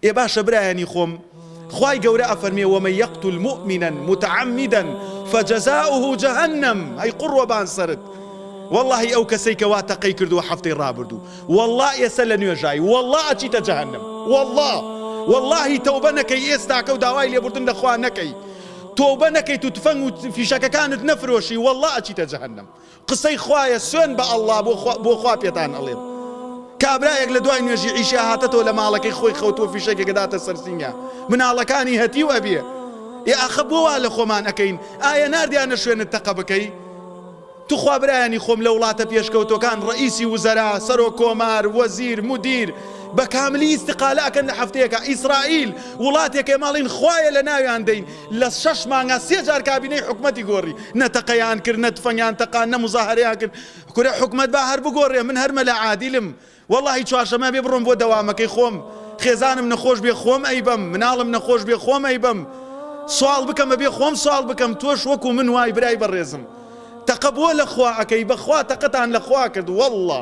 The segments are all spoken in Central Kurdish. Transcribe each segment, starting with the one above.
ئێ باشە برایانی خۆم خوای گەورە ئەفەرمێ ومن یقتل مۆمنا متعمدا فجزاؤه جهنم ئەی قوڕبان سەرت وەڵاهی ئەو کەسەی کە وا تەقەی کردووە هەفتەی ڕابردوو وەڵا ئێسە لە نوێژایی وەڵا ئەچیتە جەهەنم وەڵا وەڵاهی تەوبە نەکەی ئێستاکە و داوای لێبوردن لەخوا نەکەی تۆبە نەکەیت و تفەنگ و فیشەکەکانت نەفرۆشی وەڵا ئەچیتە جەهەنم قسەی خوایە سوێن بە اللە بۆ خوا پێتان ئەڵێم کابرایەک لە دوای نوێژی عیشا هاتەتەوە لە ماڵەکەی خۆی خەوتووە فیشەکێک داتە سەر سینگە مناڵەکانی هەتیو ئەبێ ئێ ئاخە بۆ وا لە خۆمان ئەکەین ئایا ناردیانە شوێنت تەقە بکەی توخوا برایانی خۆم لە وڵاتە پێشکەوتەکان ڕئیسی وزەرا سەرۆ کۆمار وەزیر مدیر بە کاملی ئیسقالەکەن لە هەفتەیەەکە ئیسرائیل وڵاتێکێ ماڵین خوایە لە ناویان دەین لە شەش مانگا سێ جار کابینەی حکومەتی گۆڕی نە تەقەیان کرد نە تفەنگیان تەقاند نە موزاهەرەیان کرد کورە حکومەت با هەر بگۆڕێ من هەر مەلا عادیلم وەڵاهی چوارشەمە بێ بڕۆم بۆ دەوامەکەی خۆم خێزانم نەخۆش بێ خۆم ئەیبەم مناڵم نەخۆش بێ خۆم ئەیبەم سواڵ بکەم بەبێ خۆم سواڵ بکەم تۆش وەکو من وای برای بەڕێزم تەقە بۆ لە خوا ئەکەی بەخوا تەقەتان لە خوا کرد وەڵا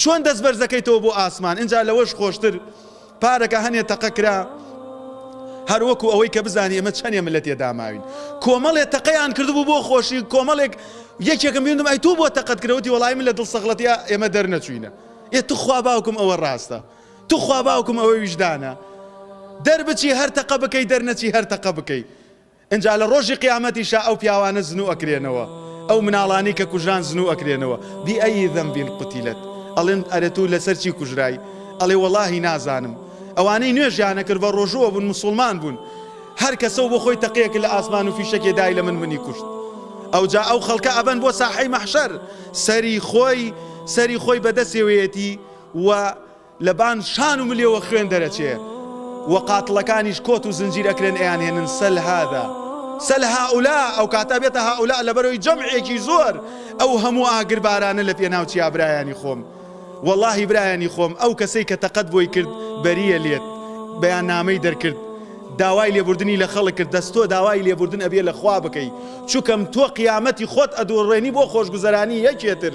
چۆن دەست بەرز دەکەیتەوە بۆ ئاسمان ئینجا لەوەش خۆشتر پارەکە هەنێ تەقە کرا هەر وەکو ئەوەی کە بزانی ئەمە چەنێ من لە تێداماوین کۆمەڵێ تەقەیان کردبوو بۆ خۆشی کۆمەڵێک یەکێکم بینم ئەی تۆ بۆ تەقەت کرەوەتی وەڵای من لە دڵ سەغڵەتیا ئێمە دەرنەچوینە ئێ توخوا باوکم ئەوە ڕاستە توخوا باوکم ئەوە ویژدانە دەربچی هەر تەقە بکەی دەرنەچی هەر تەقە بکەی ئنجا لە ڕۆژی قیامەتیشا ئەو پیاوانە زنو ئەکرێنەوە ئەو مناڵانی کە کوژران زنو ئەکرێنەوە بئەی ذنب قتلت ئەڵێن ئەرێ تو لەسەر چی کوژرای ئەڵێ وەڵاهی نازانم ئەوانەی نوێژیان نەکرد بە ڕۆژووە بون مسوڵمان بون هەر کەسەو بۆ خۆی تەقەیەک لە ئاسمان و فیشەکێ دای لە من منی کوشت ئەوجا ئەو خەڵکە ئەبەن بۆ ساحەی مەحشەر سەری خۆی سەری خۆی بەدەسێوەیەتی و لەبان شان و ملێوە خوێن دەرەچێ و قاتڵەکانیش کۆت و زنجیر ئەکرێن ئەیانهێنن سەل هادا سەل هائولا ئەوکاتە بێتە هائولا لەبەرەوەی جەمعێکی زۆر ئەو هەموو ئاگربارانە لەپێناو چیا برایانی خۆم وەڵاهی برایانی خۆم ئەو کەسەی کە تەقەت بۆی کرد بەریە لێت بەیاننامەی دەرکرد داوای لێبوردنی لە خەڵک کرد دەست تۆ داوای لێبوردن ئەبێ لە خوا بکەی چوکەم تۆ قیامەتی خۆت ئەدۆڕێنی بۆ خۆشگوزەرانی یەکێتر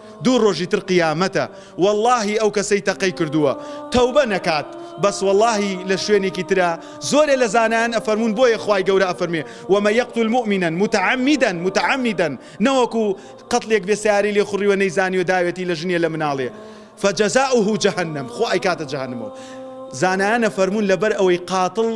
دوو ڕۆژی تر قیامەتە وەڵاهی ئەو کەسەی تەقەی کردووە تەوبە نەکات بەس وەڵاهی لە شوێنێکی ترا زۆرێ لە زانایان ئەفەرموون بۆیە خوای گەورە ئەفەرموێ ومن یقتل مۆمنا متعمدا متعمدا نەوەکو قەتلێک بێ سەیارەی لێ خوڕیوە نەیزانیوە داوێتی لە ژنێ لە مناڵێ فجزاؤه جهنم خوا ئەیکاتە جەهەنمەوە زانایان ئەفەرموون لەبەر ئەوەی قاتڵ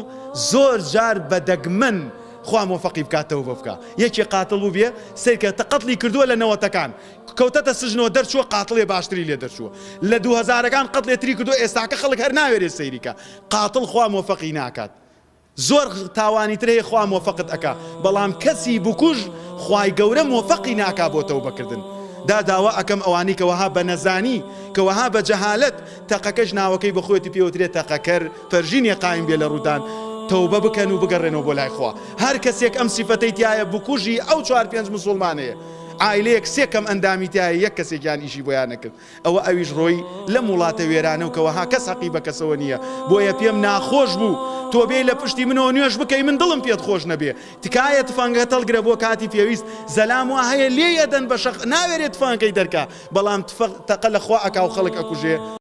زۆر جار بە دەگمەن خوا مۆفەقی بکات تەوبە بکا یەکێ قاتڵ بووبێ سەیرکە تە قەتڵی کردووە لە نەوەتەکان کەوتەتە سجنەوە دەرچووە قاتڵێ باشتری لێ دەرچووە لە دوو هەزارەکان قەتلێ تری کردوە ئێستاکە خەڵک هەر ناوێرێ سەیریکا قاتڵ خوا مۆفەقی ناکات زۆر تاوانی تر هەیە خوا مۆفەقت ئەکا بەڵام کەسی بکوژ خوای گەورە مۆفەقی ناکا بۆ تەوبەکردن دا داوا ئەکەم ئەوانەی کە وەها بە نەزانی کە وەها بە جەهالەت تەقەکەش ناوەکەی بە خۆیەتی پێ وترێ تەقەکەر پەرژینێ قایم بێ لە ڕوودان تەوبە بکەن و بگەڕێنەوە بۆ لای خوا هەر کەسێک ئەم سیفەتەی تیایە بکوژی ئەو چوار پێنج مسوڵمانەیە عایلەیەک سێ کەم ئەندامی تیایە یەک کەسێکیان ئیشی بۆیان نەکرد ئەوە ئەویش ڕۆی لەم وڵاتە وێرانە و کە وەها کەس هەقی بە کەسەوە نیە بۆیە پێم ناخۆش بوو تۆ بێی لە پشتی منەوە نوێژ بکەی من دڵم پێت خۆش نەبێ تکایە تفەنگەکە تەڵگرە بۆ کاتی پێویست زەلام وا هەیە لێی ئەدەن بە شەق ناوێرێ تفەنگەکەی دەرکا بەڵام تفەق تەقە لە خوا ئەکا و خەڵک ئەکوژێ